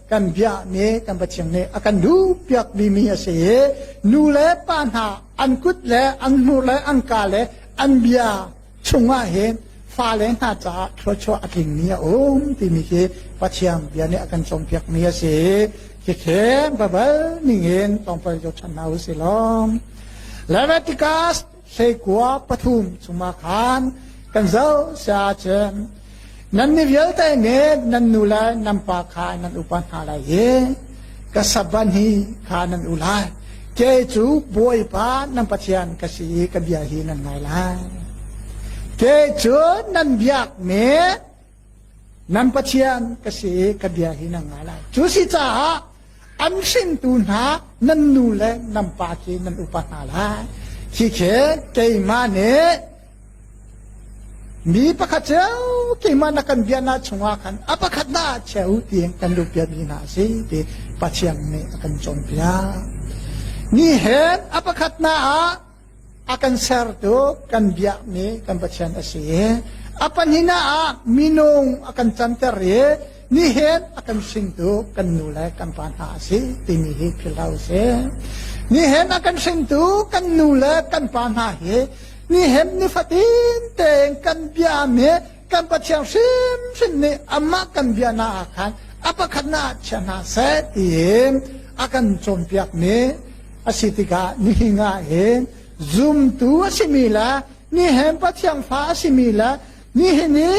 kan biakmi kan Pathian nih a kan duhpiakmi mi a si i nu le pa hna an kut le an hnur le an ka le an bia chungah hin fale hna caah thluachuah a tlingmi a um timi khi Pathian bia nih a kan cawnpiakmi a si khi khem babal ningin tongpal jo chan hna u si lom Leviticus hleikua pathum chungah khan kan zoh sia cun nan mi vialte nih nan nu le nan pa kha nan upa hna lai i ka saban hi kha nan u lai ke cu bawipa nan pathian ka si i ka bia hi nan ngai lai ke cu nan biakmi Nan Pathian ka si ka bia hi na ngah lai. Cu si caah an hringtu hna nan nu le nan pa khi nan upa hna lai. Khi khi keimah nih mi pakhat cu keimah na kan biaknak chungah khan a pakhat na ah chia u ti in kan luh piakmi hna a si ti Pathian nih a kan cawnpiak. Ni hen a pakhat na ah A kan sertu kan biakmi kan Pathian a si i a pahnih ah minung a kan canter i nihin a kan hringtu kan nu le kan pa hna a si timi hi philhlo a si. Nihin a kan hringtu kan nu le kan pa hna hi nihin nifatin tein kan biami kan Pathian hrimhrim nih amah kan bia hna ah khan a pakhatnak ah chia hna seh tiin a kan cawnpiakmi a si tikah nihin ah hin zumtu a simi le nihin Pathian fa a simi le nihin i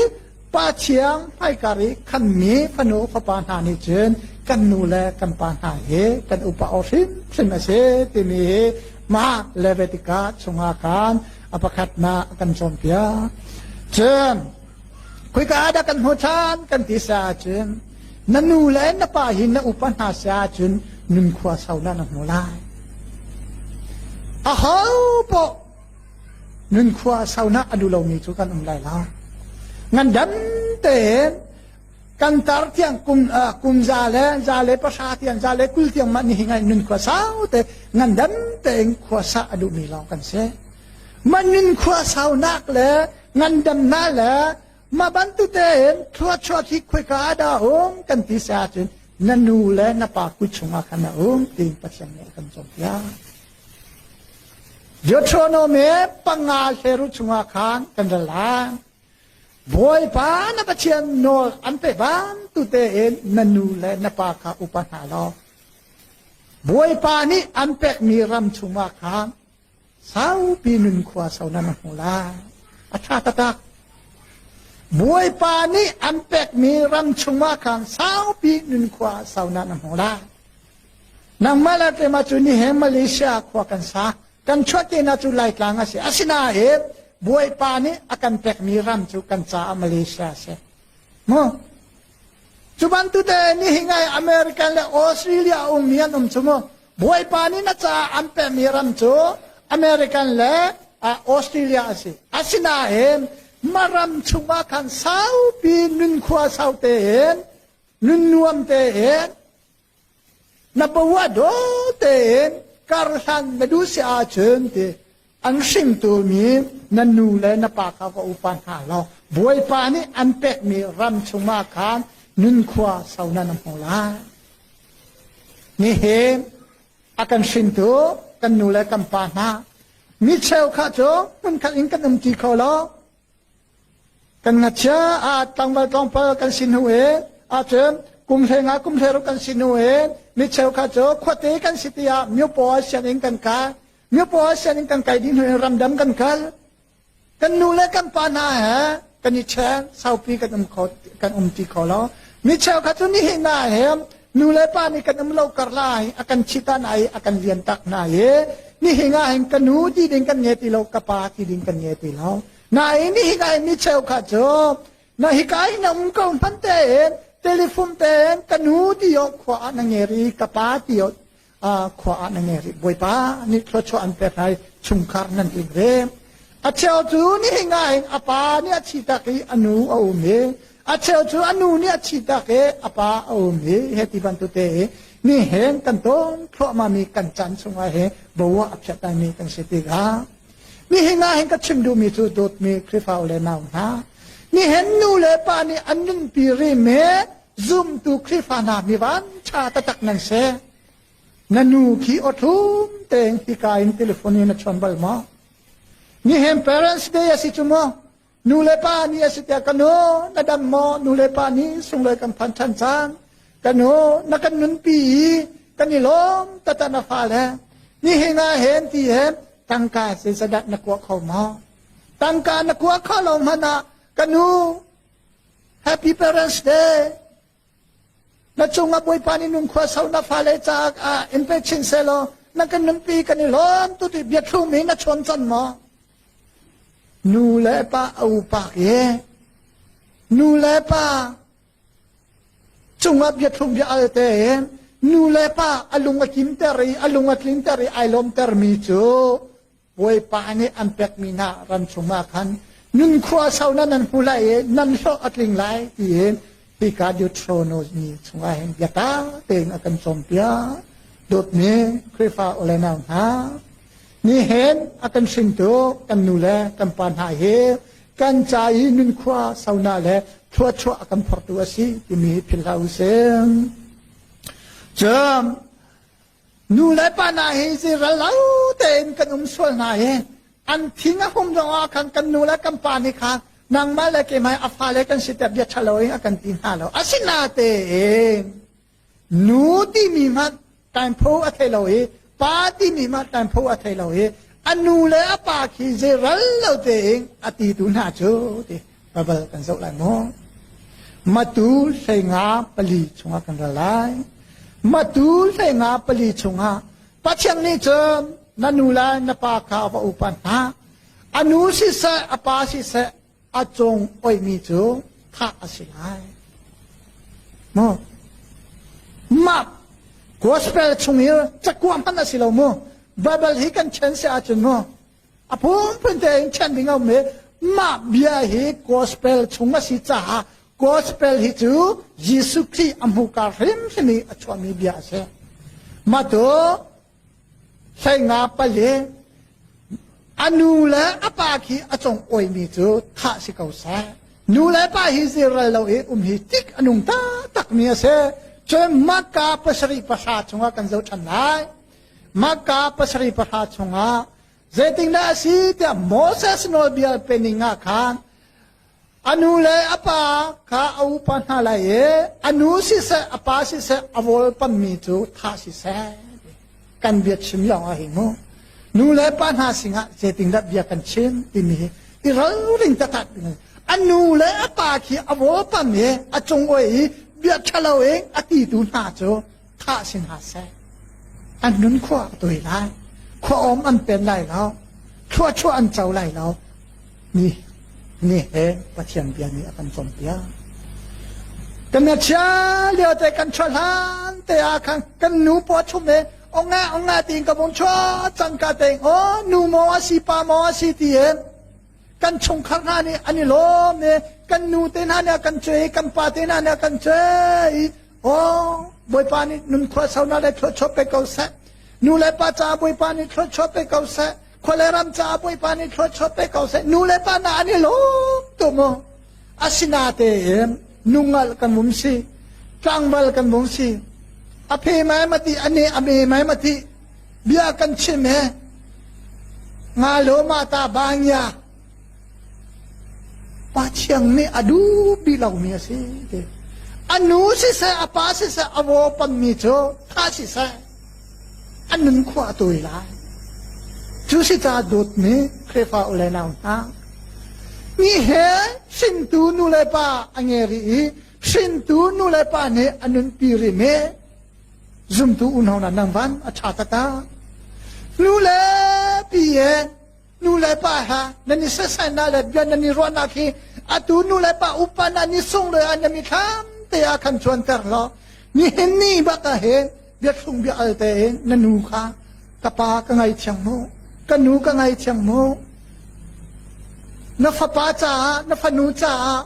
Pa Thiang hmaikar i khanmi fanu fapa hna nih cun kan nu le kan pa hna hi kan upa o hrimhrim a si timi hi mah Levitica chungah khan a pakhatnak kan cawnpiak cun khoika ah dah kan hmu ṭhan kan ti sa cun na nu le na pa hi na upa hna sa cun nunkhua sau na na hmu lai a ho poh nunkhua sau na a duh lomi cu kan um lai lo ngan dan tein Kan tar tiang kum uh, kum za le za le pahra tiang za le kul tiang mah nihin ngai nun khua sau te ngan dam tein khua sa a duhmi lawng kan si. Man nun khua sau nak le ngan dam na le ma bantute in thua chua thi khoi ka ada um kan ti sa cun na nu le na pa ku chungah kan a um ti pathian nih kan cawm tiang. Deuteronomy panga hleru chungah khan kan ra lang. Bawipa na Pathian nawl an pe bantute in na nu le na pa kha upa hna law Bawipa nih an pekmi ram chungah khan saupi nunkhua so na hmu lai a ṭha taktak Bawipa nih an pekmi ram chungah khan saupi nunkhua so na hmu lai nangmah le keimah cu ni he Malaysia khua kan sa Kan chuahtenak cu Laitlang a si. Asinain Bawipa nih a kan pekmi ram cu kan caah Malaysia a si. Mu. Cu bantuke nihin ah America le Australia a ummi an um cu mu. Bawipa nih na caah an pekmi ram cu American le Australia a si. Asinain mah ram chungah khan saupi nun khua sau tein, nun nuam tein Na paua daw tein karhlan na duh si ahcun ti an hringtu mi na nu le na pa kha va upa hna law bawipa nih an pekmi ram chungah khan nunkhua sonan an hmu lai nihin a kan hringtu kan nu le kan pa hna mi cheu kha cu hmunkhat in kan um ti kho lo Kan ngakchia ah tlangval tlawngpal kan sin hnu e ahcun kum hleng ah kum hleruk kan sin hnu e mi cheukhat cu khuate kan si tiah myopaw sianginn kan kai myopaw sianginn kan kai dih hnu in ramdam kan kal kan nu le kan pa hna he kan i chen saupi kan um kho kan um ti kho lo mi cheukhat cu nihin ah he Nu le pa nih kan um lo karlai a kan chita hna i a kan lian tak hna i nihin ah hin ka nu ti ding kan nge ti lo ka pa ti ding kan nge ti lo nain nihin ah hin ni cheu kha cu na hika in na um ko hman tein telephone tein ka nu ti o khua ah na nge ri ka pa ti o khua ah na nge rih bawipa nih thluachuah an pek hai chungkhar nan in ve a cheu cu nih nga in a pa nih a thi tak i a nu a um i a cheu cu a nu nih a thi tak i a pa a um i he ti bantukte i ni hen kan ton thluahma mi kan chan chungah he bowa a phiat mi kan si tikah ni hi nga hin ka chim duhmi cu dawtmi khrifau le nau hna ni hen nu le pa nih an nunpi ri me zumtu Khrihfa hna mi van ṭha taktak nan se na nu khi awthlum tein hika in telefon in a chawn bal maw ni hen parents day asi cu maw nu le pa ni asi tiah ka nu na dam maw nu le pa ni sunglawi kan phan ṭhan caan ka nu na kan nunpi i kan i lawm tata na fa le ni hinga hen ti hen tangka se sadat na kuah kho maw tangka na kuah kho lo hmanh ah ka nu Happy Parents Day! Na cungah Bawipa nih nunkhua sau na fale caah ah in pe chin selaw na kan nunpi kan i lawm tu ti biathlum hi na chawn can maw? Nu le pa a upa i nu le pa cungah biathlum bia alte in nu le pa a lung a kimter i a lung a tlinter i ai lawmter mi cu Bawipa nih an pekmi hna ram chungah khan nun khua sau nan an hmu lai i nan hlawh a tling lai tiin hika Deuteronos ni chungah hin biata tein a kan cawnpiak dawtmi Khrihfa olenau hna ni hen a kan hringtu kan nu le kan pa hna hi kan ca i nun khua sauna le thluachuah a kan phortu a si timi philhla u sih cun Nu le pa hna hi zeiral lo tein kan um sual hna i an thing a hum zongah khan kan nu le kan pa nih khan nangmah le keimah a fale kan si tiah bia ṭhalo in a kan ti hna lo asinain nu timi hmanh tainpho a thei lo i pa timi hmanh tainpho a thei lo i a nu le a pa khi zeiral lo tein a ti tu hna cu ti babal kan zoh lai maw matu hlei nga pali chungah kan ra lai matu hlei nga pali chungah pathian nih cun na nu lai na pa kha va upa hna a nu siseh a pa siseh a cung oihmi cu thah a si lai mu ma gospel chung i cakuam hman a si lo mu babal hi kan chen si ahcun mu A phunphun tein chanh ding a um i mah bia hi gospel chung a si caah gospel hi cu Jesuh Khrih a hmuhka hrimhrim i a chuahmi bia a si. Matu hlenga pali a nu le a pa khi a cung oimi cu thah si ko seh. Nu le pa hi zirral lo i um hi tik a nung taktakmi a si. Cun makka pasarih pahra chungah kan zoh ṭhan lai. Makka pasarih pahra chungah zeitindah a si tiah Moses nawlbia pening ah khan a nu le a pa kha a upa hna lai i a nu siseh a pa siseh a volpammi cu thah siseh kan bia chim lawng ah hi mu nu le pa hna sinah zeitindah bia kan chim timi hi i ralring taktak a nu le a pa khi a volpam i a cung oai i bia ṭhalo in a titu hna cu thah si hna seh. An nun khua a tuai lai. Khua om an pen lai lo. Thluachuah an co lai lo. Mi ni he Pathian bia nih a kan cawnpiak. Kan chia lio te kan tha hlan te a khan kan nu po chum e onga onga tin ka bong cho chang ka te o nu mo asi pa mo asi ti em kan chungkhar hna nih an i lawm i kan nu te hna nih kan cuai kan pa te hna nih kan cuai aw bawipa nih nunkhua saunak le thluachuah pe ko seh nu le pa caah bawipa nih thluachuah pe ko seh khua le ram caah bawipa nih thluachuah pe ko seh nu le pa hna an i lawm tu mu asinatein nungal kan mum si tlangval kan mum si a phe mai mati ani a me mai mati bia kan chim he nga lo ma ta bangya pa chiang nih a dubi lomi a si ti a nu siseh a pa siseh a vo pammi cu tha siseh an nun khua a tawi lai cu si ta dawtmi khrefa ule nau hna ni he hringtu nu le pa a nge ri i hringtu nu le pa nih a nunpi rih me zumtu unau hna nang van a ṭha takah nu le pi he nu le pa ha nan i sesainak le bia nan i ruahnak hi atu nu le pa upan an i sung le an i thlam te a kan cuanter law nihin ni baka he biathlung bia alte na nu kha ka pa ka ngai thiang mu ka nu ka ngai thiang mu na fapa caah na fanu caah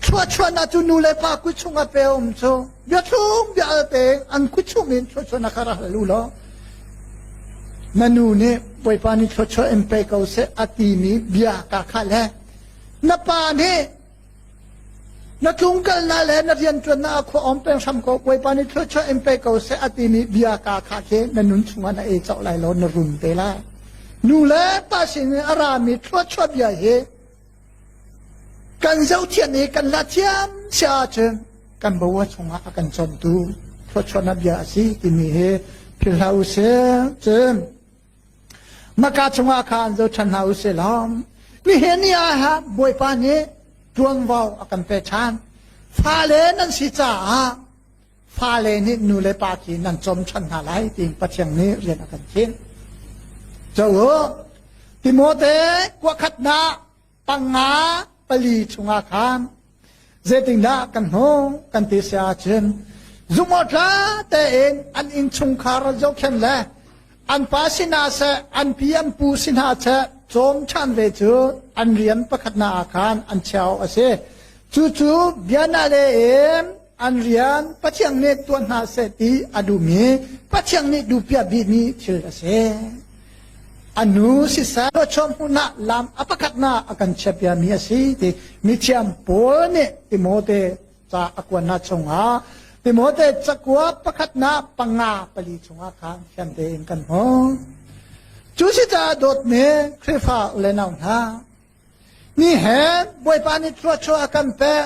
Chuahchuahnak cu nu le pa kut chungah pe a um cu biathlum bia al peng an kut chung in chuahchuahnak kha rak hal u law na nu nih Bawipa nih chuahchuah in pe ko seh a timi bia ka kha le na pa nih na tlungkalnak le na rianṭuannak ah khua om peng hram ko Bawipa nih chuahchuah in pe ko seh a timi bia ka kha khi na nun chungah na e cauh lai lo na run te lai nu le pa sin in a rami chuahchuah bia hi kan zohthiam i kan la thiam si ahcun kan boa chungah a kan chawntu thluachuan a bia a si timi hi philh hlah usih cun maka chungah khan zo than hlah usih lom nihin ni ah ha bawipa nih tuanvo a kan pe than fale nan si caah Fale nih nu le pa khi nan cawm ṭhan hna lai tiin Pathian nih rian a kan khinh. Cho u, Timote kuakhatnak panga pali chungah khan zeitindah kan hmuh kan ti si ahcun zumawṭha tein an innchungkhar zohkhen le an pa si hna seh an pi an pu si hna seh cawm ṭhan ve cu an rian pakhatnak ah khan an cheu a si. Cucu bianale in An rian Pathian nih tuah hna seh ti a duh mi Pathian nih duhpiah bik mi thil a si. A nu sisal chawm hmunah lam a pakhatnak a kan chiapia mi a si ti mithiam pawl nih Timote ca a kuannak chungah Timote cakua pakhatnak panga pali chungah khan thiam tein kan hmu. Cu si caah dawt me Khrihfa le nau hna. Ni he Bawipa nih thluachuah kan pek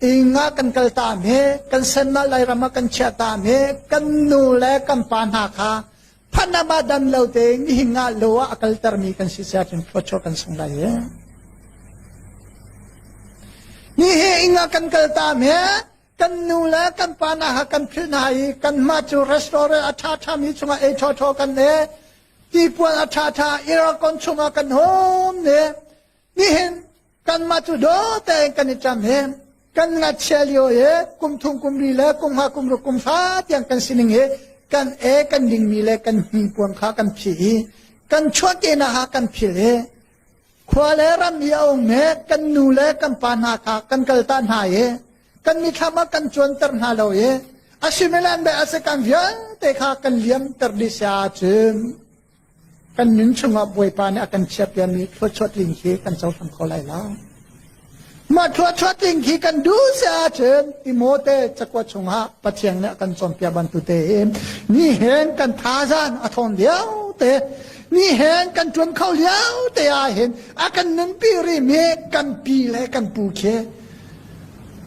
Ing ah kan kal ta hme, kan sen ah Lairam ah kan chiah ta hme, kan nu le kan pa hna kha phanam ah dam lo te nihin ah lo ah a kalter mi kan si sia cun phocho kan sung lai e. Ni he ing ah kan kal ta hme, kan nu le kan pa hna ha kan phil hna i kan ma cu restaurant a tha tha mi chunga e tho tho kan e, ti puan a tha tha iracon chunga kan hom ne, nihin kanmah cu dawte in kan i ṭam hem kan ngachia lio i kum thum kum ri le kum ha kum ruk kum hra tiang kan sining i kan e kan dingmi le kan hmingpuang kha kan phih i kan chuahkehnak ha kan phil i khua le ram i a ummi kan nu le kan pa hna kha kan kalta hna i kan mithlam ah kan cuanter hna lo i a sumilan be a si kan vialte kha kan liamter dih sia cu Kan nun chungah Bawipa nih a kan chiahpiakmi thluachuah tling hi kan cohlang ko lai lo. Mah thluachuah tling khi kan duh si ahcun Timote cakua chungah Pathian nih a kan cawnpiak bantute in ni hen kan thazan a thawng lio te ni hen kan tuan kho lio te ah hin a kan nunpi rihmi kan pi le kan pu khi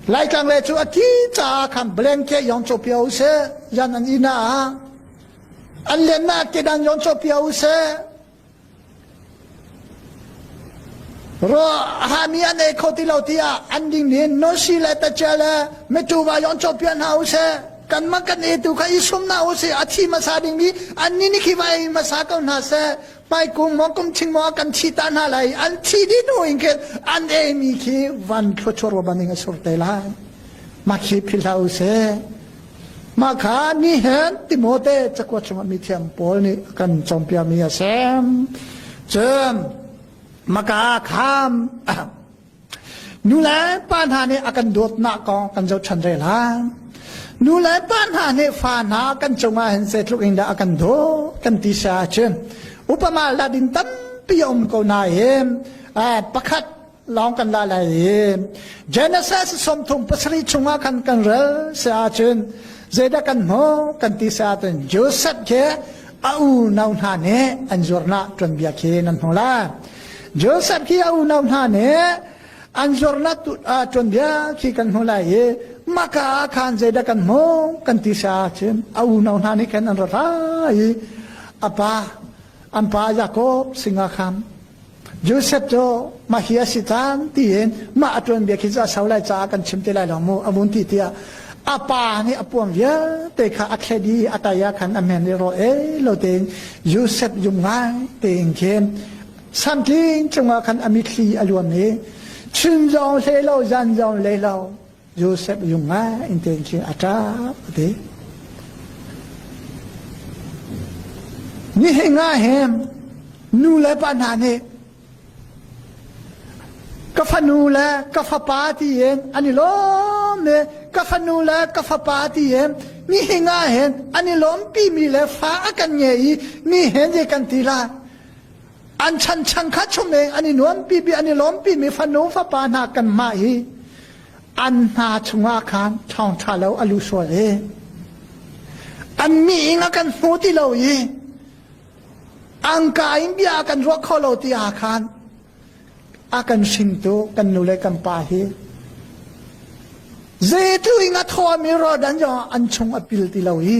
Laitlang le cu a ti caah khan blanket yong co pio usih yan an ina ah An liannak kedan yawn cawhpiak u sih. Ro hami an ei kho ti lo tiah an ding nin nosi le tacia le metuva yawn cawhpiak hna u sih. Kan man kan ei tu kha i sum hna u sih. A thi hmasa dingmi an ni ni khi vai hmasa ko hna seh. Pai kung mo kum thing mo kan thi ta hna lai. An thi di nu in ke an ei mi khi van thluachuar ban ding a sur te lai. Ma khi phil hau seh. Mah kha ni hen Timote cakua chungah mithiam pawl nih a kan cawnpiakmi a si. Cun maka kham nu le pa hna nih a kan dawtnak kong kan zohṭhan ve lai. Nu le pa hna nih fa hna kan cungah hin zeitluk in dah a kan dawt kan ti sa ahcun upama ladin tampi a um ko nain pakhat lawng kan la lai i Genesis sawmthum pasarih chungah khan kan rel se ahcun zeidah kan hmuh kan ti se ahcun Joseph ke a unau hna nih an zuarnak tuanbia khi nan hmu lai Joseph khi a unau hna nih an zuarnak tuanbia khi kan hmu lai i maka ah khan zeidah kan hmu kan ti se ahcun a unau hna nih khan an ra ra i a pa an pa Jacob singa kham Joseph cu mah hi a si caan tiin mah a tuanbia khi cu a sau lai caah kan chim te lai lo mu a vun ti tiah a pa nih a puam vialte kha a thlet i a taya khan a men i rawh e lo tein Joseph yum ngai tein khin santling cungah khan a mitthli a luam i chun zong hle lo zan zong hle lo Joseph yung ah inten cu a ṭap te. Nihin ah hem nu le pa hna nih ka fanu le ka fapa tiin an i lawm ne ka fanu le ka fapa tiin mi hinga hen an i lawm pi mi le fa a kan nge i mi hen je kan ti la an chanchan kha chum i an i nuampi mi an i lawmpi mi fanu fapa hna kanmah hi an hna chungah khan thawngtha lo a lu sual i an mi ing a kan hmu ti lo i angka in bia kan ruah kho lo ti ah khan a kan hringtu kan nu le kan pa hi zeitu ing a thawmi rodan zong an chung a pil ti lo i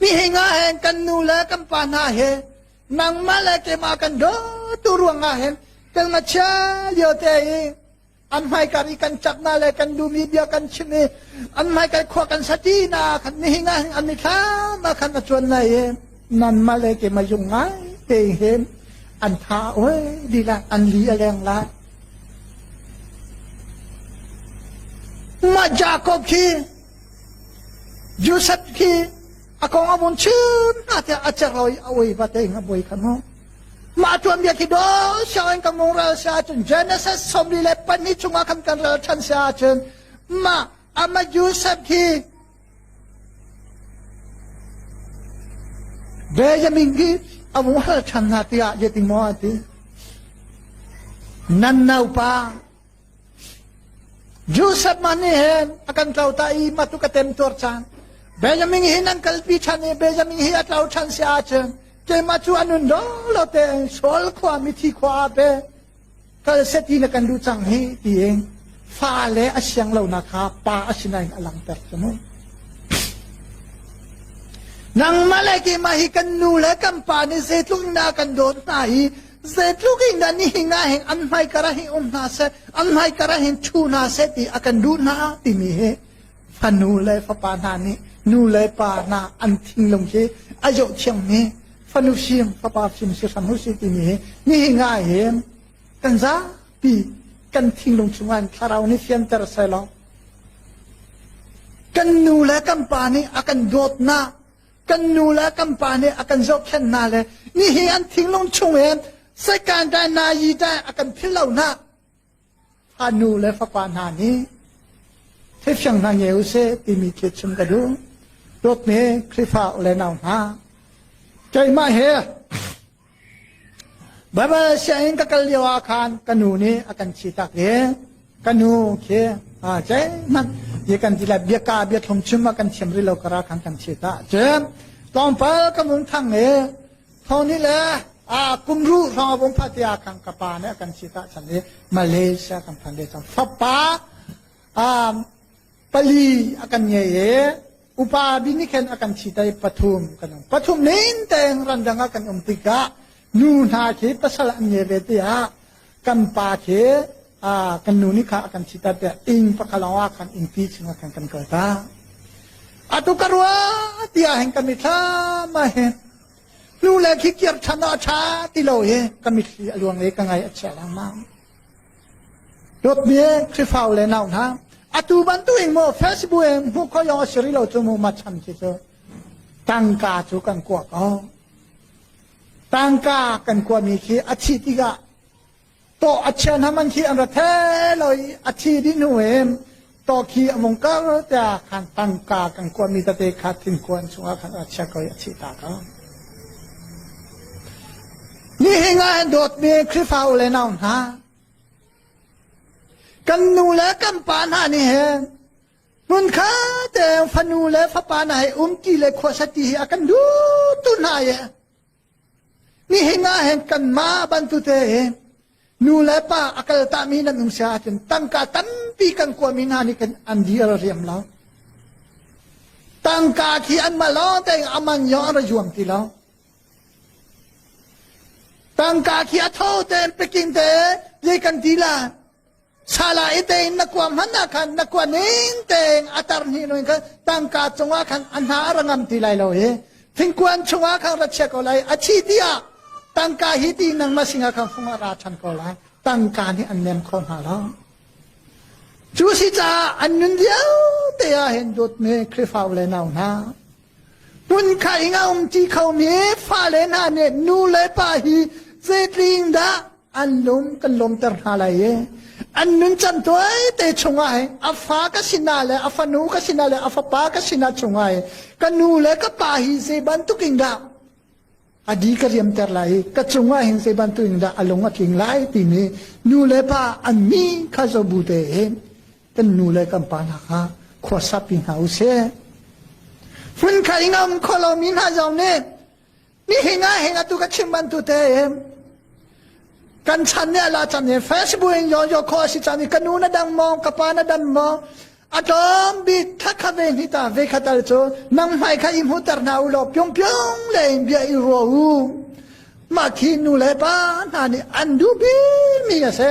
Mihinga hen kan nu le kan pa hna he nangmah le keimah kan dawtu ruangah hen kan ngachia liote i an hmaikar i kan ṭapna le kan dumi bia kan chim i an hmaikar khua kan satina khan nihinga hin an mithlam ah khan a chuan lai i nanmah le keimah zung ngai te hen an tha oi lila an li a leng lai mah Jacob khi Joseph khi a kong a vun chim hna tiah a cer lo i a oi va te nga boi kha hnu mah tuanbia khi do sianginn kan nung ral si ahcun Genesis sawmli le pahnih chungah khan kan ral ṭhan si ahcun mah ama Joseph khi Benjamin khi a vung hal ṭhan hna tiah yeting maw a ti nan naupa Joseph man nih hin a kan tlo ta i ma tu ka temtuar caan. Benjamin hi nan kalpi ṭhan i Benjamin hi a tlo ṭhan si ahcun keimah cu a nun dong lo tein Shaul khua mithi khua ah be kal seti na kan duh cang hi tiin fa le a siang lonak kha pa a sinain a langter cu mu. Nangmah le keimah hi kan nu le kan pa nih zeitluk in a kan dawt hna i Zeitluk in dah nihin ah hin an hmaikara hin um hna seh, an hmaikara hin thu hna seh ti a kan duh hna timi hi fanu le fapa hna nih nu le pa hna an thinglung hi a zoh thiangmi fanu sim fapa sim si hram u si timi hi nihin ah hin kan zapi kan thinglung chungah in thlarau nih fianter selaw kan nu le kan pa nih a kan dawtnak kan nu le kan pa nih a kan zohkhenh hna le nihi an thinglung chung in sekan dai na yi dai a kan phil lo hna fa nu le fapa hna nih theifiang hna nge u se timi thit chung ka duh dawtmi khrifak le nau hna keimah he Baibal sianginn ka kal lio ah khan ka nu nih a kan thihtak i ka nu khi aa zeihmanh i kan ti le biaka biathlum chim a kan thiam rih lo kar ah khan kan thihtak cu tlawmpal ka mun thang i thoni le a kum ru hrawng a vung phah ti ah khan ka pa nih a kan thihtak chan i Malaysia kan phan ve cang fapa um, pali a kan ngei i upa bi nih khan a kan thi tai pathum kan um pathum nen teng randang ah kan um tikah nu hna khi pasal an nge ve tiah kan pa khi kan nu nih kha kan thi ta tiah ing pakalawa kan ing pi chunga kan kan kal ta atu ka rua tia hen kan mit thla ma he nu le khi kir than a tha ti lo hi ka mit li aluang le ka ngai a chia lang mang Dawtmi Khrihfau le nau hna, atu bantukin maw Facebook in hmuh ko yong a si rih lo cu mu macham ci cu tangka cu kan kua ko. Tangka kan kuami khi a thi tikah to a chian haman khi an ra the lo i a thi dih hnu in Toki a mung kar te khan tangka kan kuat mi tate kha thin kuan chungah khan a chia ko a thi ta ka ni hinga dawt mi khrifa u le nau hna kan nu le kan pa hna ni hen mun kha te fanu le fapa na he um ti le khua sati hi akan du tu na ye Nihin ah hin kanmah bantukte hin nu le pa a kaltahmi nan um si ahcun tangka tampi kan kuami hna nih kan an dir riam lo. Tangka khi an ma lawng tein a man yawng an ra juam ti lo. Tangka khi a tho tein peking te ye kan ti la Sala i tein na kuam hmanh ah khan na kua ning tein a tar hni lo in khan tangka cungah khan a hna a ra ngam ti lai lo i thingkuan chungah khan ra chia ko lai a thi ti ah tangka hi ti nangma sinah khan fung ah ra ṭhan ko lai tangka nih an nem kho hna lo cu si caah an nun vialte ah hin dawtmi Khrihfa le nau hna hmun kha ing a um ti khomi fale hna nih nu le pa hi zeitling dah an lung kan lawmter hna lai i an nuncan tuaite chungah hi a fa ka sinah le a fanu ka sinah le a fapa ka sinah chungah hi ka nu le ka pa hi zei bantukin dah a di ka riamter lai i ka cungah hin zei bantukin dah a lung a tling lai timi nu le pa an mi kha zobu te in kan nu le kan pa hna kha khuasapi hna u sih phun kha ingam kholomi hna zong nih Nihin ah hin atu ka chim bantu te kan chan ne la chan ne Facebook in yo yo kho si chan ka nu na dang mo ka pa na dan mo atom bit tha kha ve ni ta ve khatal chu nang mai kha i mu tar na u lo pyong pyong le in bia i ro u ma khi nu le pa na ni an du bi mi a se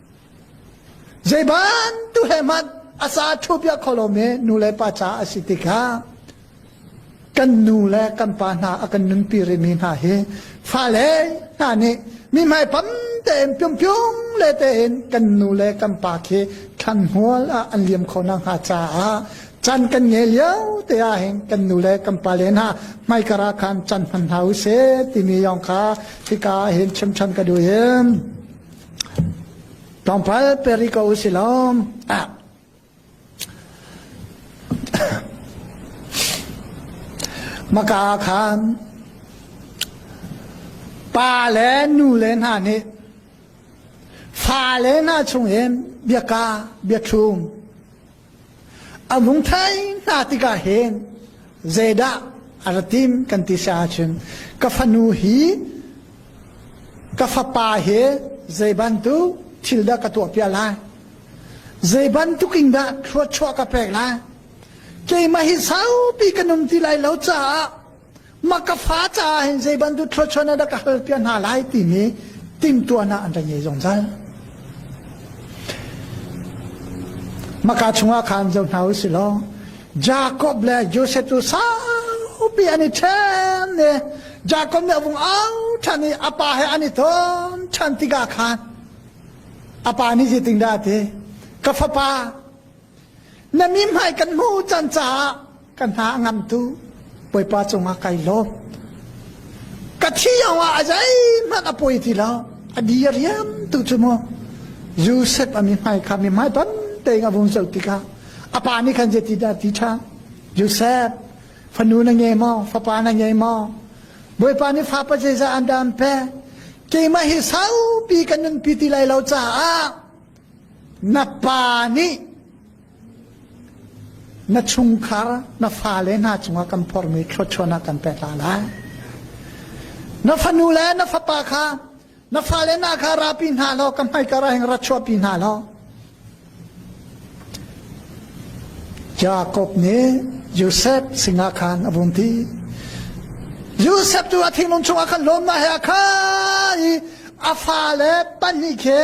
Zei bantuk he hmanh a sa ṭhu piak kho lomi nu le pa caah a si tikah kan nu le kan pa hna a kan nunpi rihmi hna hi fale hna nih mi hmaipam tein piumpium le tein kan nu le kan pa khi thlanhmual ah an liam kho na hnga caah can kan ngei lio te ah hin kan nu le kan pa le hna hmaikara khan can hman hna u se timi yong kha hika ah hin chim ṭhan ka duh im Tlawmpal peri ko si lawm. Ah. Maka khan pa le nu le hna nih fa le hna chung in biaka biathlum A hmung thai hna tikah hin zeidah a ra tim kan ti sa ahcun ka fanu hi ka fapa he zei bantuk thil dah ka tuah piak lai zei bantuk in dah thluachuah ka pek lai keimah hi saupi ka nung ti lai lo caah Mah ka fa caah hin zei bantuk thluachuan dah ka hal piak hna lai timi timtuan ah an ra ngei zungzal. Maka chungah khan zo hna u si law Jacob le Joseph tu saupi an i ṭhen i Jacob nih a vung au ṭhan i a pa he an i ton ṭhan tikah khan a pa nih zeitin dah a ti? Ka fapa, na mihmai kan hmuh can caah ka hna a ngam tu Bawipa cungah kai lawm ka thiang ah a zeihmanh a poi ti lo a di a riam tu cu mu Joseph a mi hmai kha mi hmai ton tein a vung zoh tikah a pa nih khan je ti dah ti tha Joseph fanu na ngei maw fapa na ngei maw Bawipa nih fa pa jeza an dam pe keimah hi saupi kan nun pi ti lai lo caah na pa nih Na chungkhar na fale hna cungah kan phormi thlawchuahnak kan pek hna lai. Na fanu le na fapa kha na fale hna kha rapi hna law ka hmaika ra heng ra chuahpi hna law Jacob nih Joseph sinah khan a vun ti Joseph tu a thinglung chungah khan lawmna he a khan i a fale pahnih khe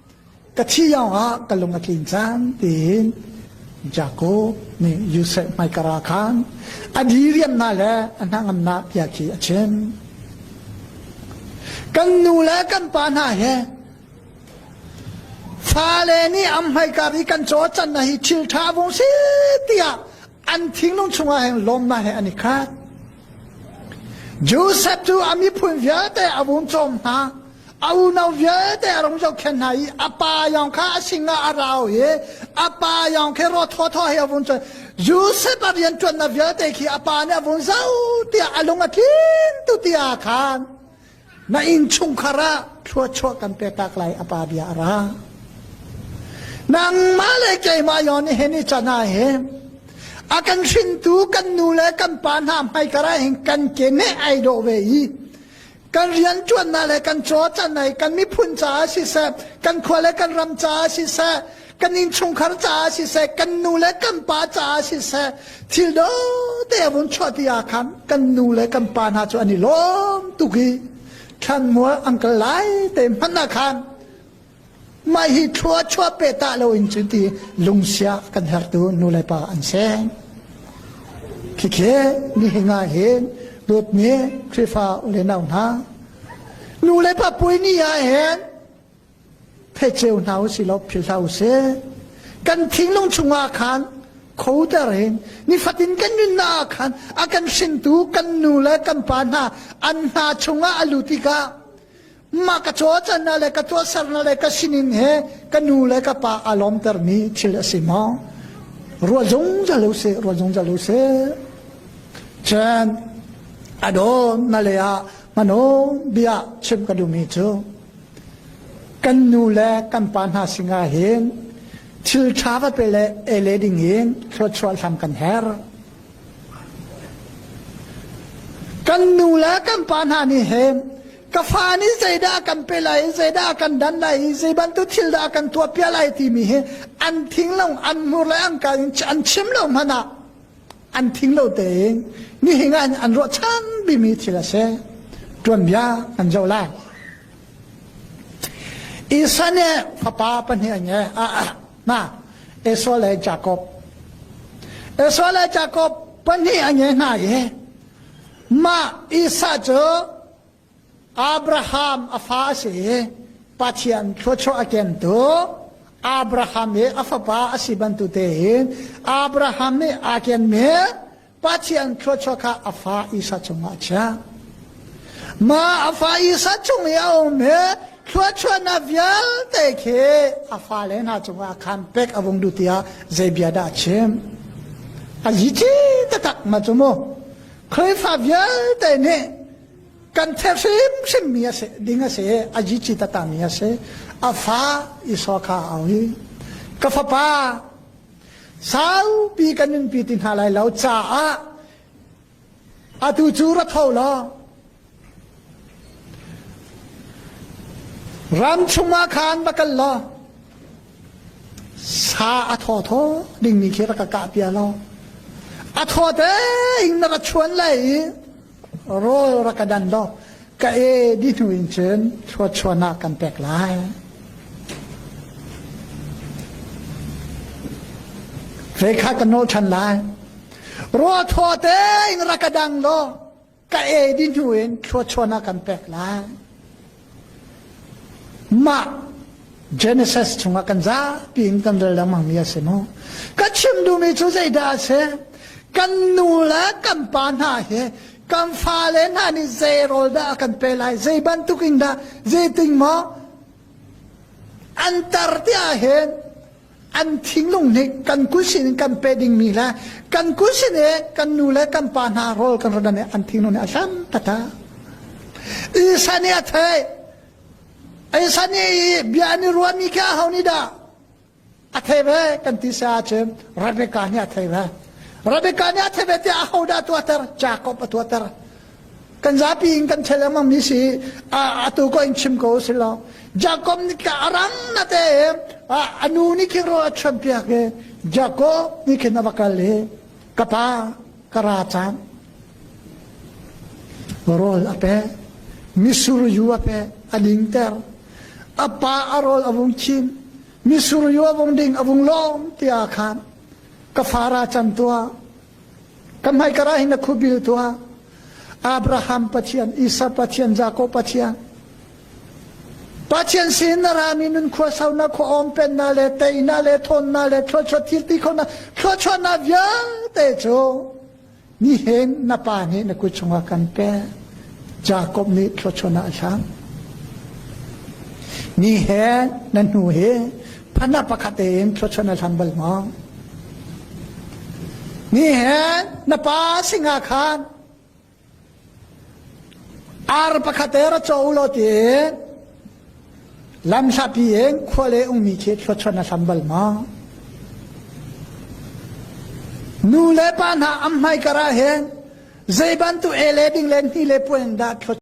ka thih awngah ka lung a tlin cang tiin Jacob nih Josef hmaikar ah khan a diriamnak le a hnangamnak bia khi a chim. Kan nu le kan pa hna he fale nih am hmaikar i kan cawcan na hi thil tha vung si tiah an thinglung chungah hin lawmnak he an i khat Joseph cu a miphun vialte a vun cawm hna a unau vialte a rung zohkhen hna i a pa yong kha a sinah a rau i a pa yong khi ro thaw thaw he a vun cuan Joseph a rianṭuannak vialte khi a pa nih a vun zoh tiah a lung a tlin tu ti aa khan Na innchungkhar ah thluachuah kan petak lai a pa bia a ra. Nangmah le keimah yon he ni cana he a kan hrintu kan nu le kan pa hna hmai kara hin kan ke ne ai do ve i kan rian tuanna le kan caw canai kan miphun caah siseh kan khua le kan ram caah siseh kan innchungkhar caah siseh kan nu le kan pa caah siseh thil dawte a vun chuahti ah khan kan nu le kan pa hna cu an i lawm tuk i thlanmual an kal lai te hman ah khan mah hi thlua chua pe ta lo in cu ti lungsia kan hertu nu le pa an seng khikhe ni hinga hin lut ni khrifa ule nau hna nu le pa pui ni ah hen pheceu hna u si law philh hlah u sih kan thinglung chungah khan khoter in nifatin kan nunnak ah khan a kan hringtu kan nu le kan pa hna an hna chungah a lut tikah mah ka cawcanna le ka tuahserna le ka sinin he ka nu le ka pa a lawmtermi thil a si maw rual zungzal u sih rual zungzal u sih chan adon na le ah manon bia chim ka duhmi cu Kan nu le kan pa hna sinah hin thil ṭha va pe le ei le ding in thluachuah hlam kan herh. Kan nu le kan pa hna nih hin ka fa nih zeidah kan pe lai i zeidah kan dan lai i zei bantuk thil dah kan tuah piak lai timi hi an thing lo an hmur le an ka in an chim lo hmanh ah an thing lo tein nihin ah an ruah chan bimi thil a si tuanbia an zo lai isa nih fapa pahnih an nge na esau le jacob esau le jacob pahnih an nge hna i mah isa cu Abraham a fa a si i Pathian thluachuah a kentu Abraham i a fapa a si bantutein in Abraham nih aa kenmi Pathian thluachuah kha a fa Isa cungah a chiah. Mah a fa Isa cung i a ummi thluachuahnak vialte khi a fale hna cungah khan pek a vung duh tiah zei bia dah a chim? A zici taktak ma cu mu. Khrihfa vialte nih Kan chek hrimhrim mi a si ding a si a jicit a tami a si a fa Esau kha a auhi ka fapa saupi kan nunpi ti hna lai lo caah atu cu ra tho law ram chungah khan va kal law sa a thaw thaw dingmi khi rak ka kah pia law a thaw te in na ra chuan lai i Rawl rak ka dan law ka e di hnu in cun thluatchuahnak kan pek lai. Hle kha kan nawl ṭhan lai. Ruah thua te in rak ka dang law ka e di hnu in thluatchuahnak kan pek lai. Mah Genesis chungah kan zapi in kan rel lengmangmi a si mu. Ka chim duhmi cu zeidah a si? Kan nu le kan pa hna hi kan fale hna nih zei rawl dah a kan pe lai? Zei bantuk in dah? Zei ting maw? An tar ti ahhin an thinglung nih kan kul sin in kan pe dingmi le kan kul sin i kan nu le kan pa hna rawl kan rodan i an thinglung nih a hlam tata isa nih a thei isa nih i bia an i ruahmi khi a ho nih dah a thei ve kan ti sa ahcun rebecca nih a thei ve rebecca nih a thei ve tiah a hodah a tuahter jacob a tuahter Kan zapi in kan ṭhel lengmang mi si atu ko in chim ko si lo. Jacob nih ka arang na te a nu nih khin ro a chuan piak i Jacob nih khin a va kal i ka pa ka ra cang rawl a pe misur yu a pe a ding ter a pa a rawl a vung chin misur yu a vung ding a vung lawm tiah khan ka fara can tua Ka hmai karah hin a khubil tuah. Abraham Pathian, Isaac Pathian, Jacob Pathian. Pathian sin na rami nun khua sau na khua om pen na le tei na le thon na le thluachuat thil ti khona thluachuat na vialte cu ni hen na pa nih na kut chungah kan pe Jacob nih thluachuat na a thlam ni he na hnu he Phanah pakhat in thluachuan a hlam bal maw? Ni hen na pa singa khan ar pakhat e ra cho lo ti lam hlapi in khua le ungmi khi thluachuan a hlam bal maw? Nu le pa hna am hmai kara hen zeibantu e le ding le ni le puan dah thluachuan